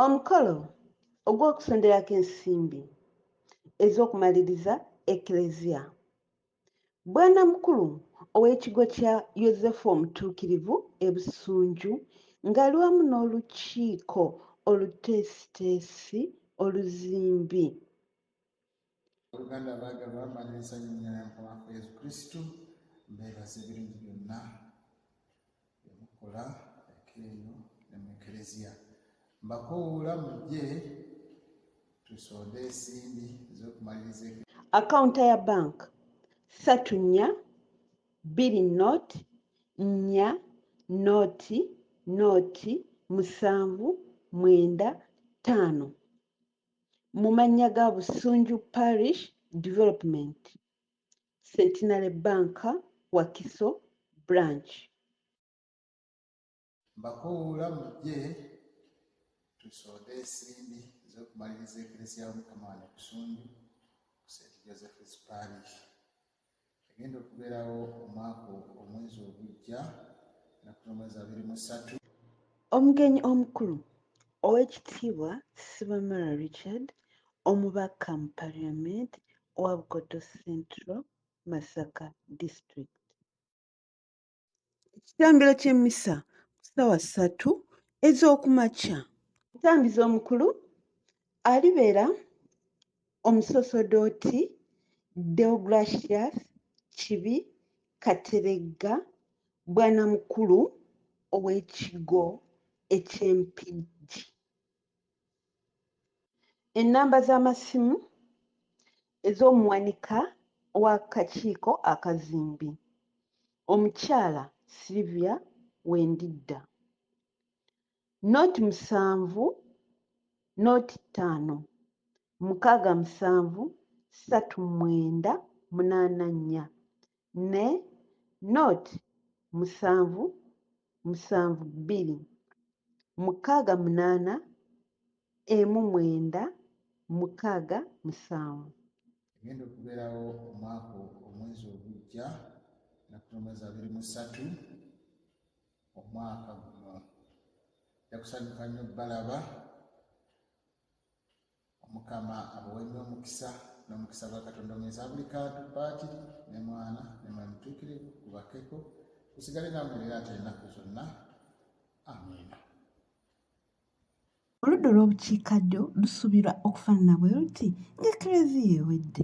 omukolo ogw'okusonderako ensimbi ez'okumaliriza eklezia bwana mukulu ow'ekigo kya yosefu omutuukirivu ebusunju ng'ali wamu n'olukiiko oluteesiteesi oluzimbi oluganda abaagalwa manya ensanyu nyana mukamafu yesu kristu mbeebaza ebirungi byonna byemukola ekeeyo ne mu ekereziya mbakoowuula mujje tusonde ensimbi ez'okumaliriza akawunta ya bank satu nnya bbiri not nnya nooti nooti musanvu mwenda ttaano mu mannya ga Busunju Parish Development Centenary Bank Wakiso Branch. Mbakoowoola mujje tusoode ensimbi ez'okumaliriza Eklezia y'Omukama wano e Busunju ku St. Joseph's Parish. egenda okubeerawo omwaka omwezi ogujja nakutomwezi abiri musatu omugenyi omukulu owekitiibwa sibamara richard omubaka mu parliament owa bukoto central masaka district Ekitambiro ky'emmisa ku ssaawa ssatu ez'oku makya. Omutambizi omukulu alibeera omusosodooti Deogratius Kibi Kateregga Bwanamukulu ow'ekigo eky'e Mpigi. ennamba z'amasimu ez'omuwanika w'akakiiko akazimbi omukyala sylivia wendidda not musanvu not ttaano mukaaga musanvu ssatu mwenda munaana nnya ne not musanvu musanvu bbiri mukaaga munaana emu mwenda mukaaga musanvu egenda okubeerawo omwaka omwezi ogujja nakutomwezi abiri musatu omwaka guno jakusanyuka nnyo balaba omukama abawe nnyo omukisa n'omukisa gwa katonda omuyinza buli kantu paakiri ne mwana ne mwe mutuukirivu gubakeko gusigale namwe leero ate ennaku zonna amiina oludda olw'obukiikaddyo lusuubirwa okufaanana bwe luti ng'ekereziya ewedde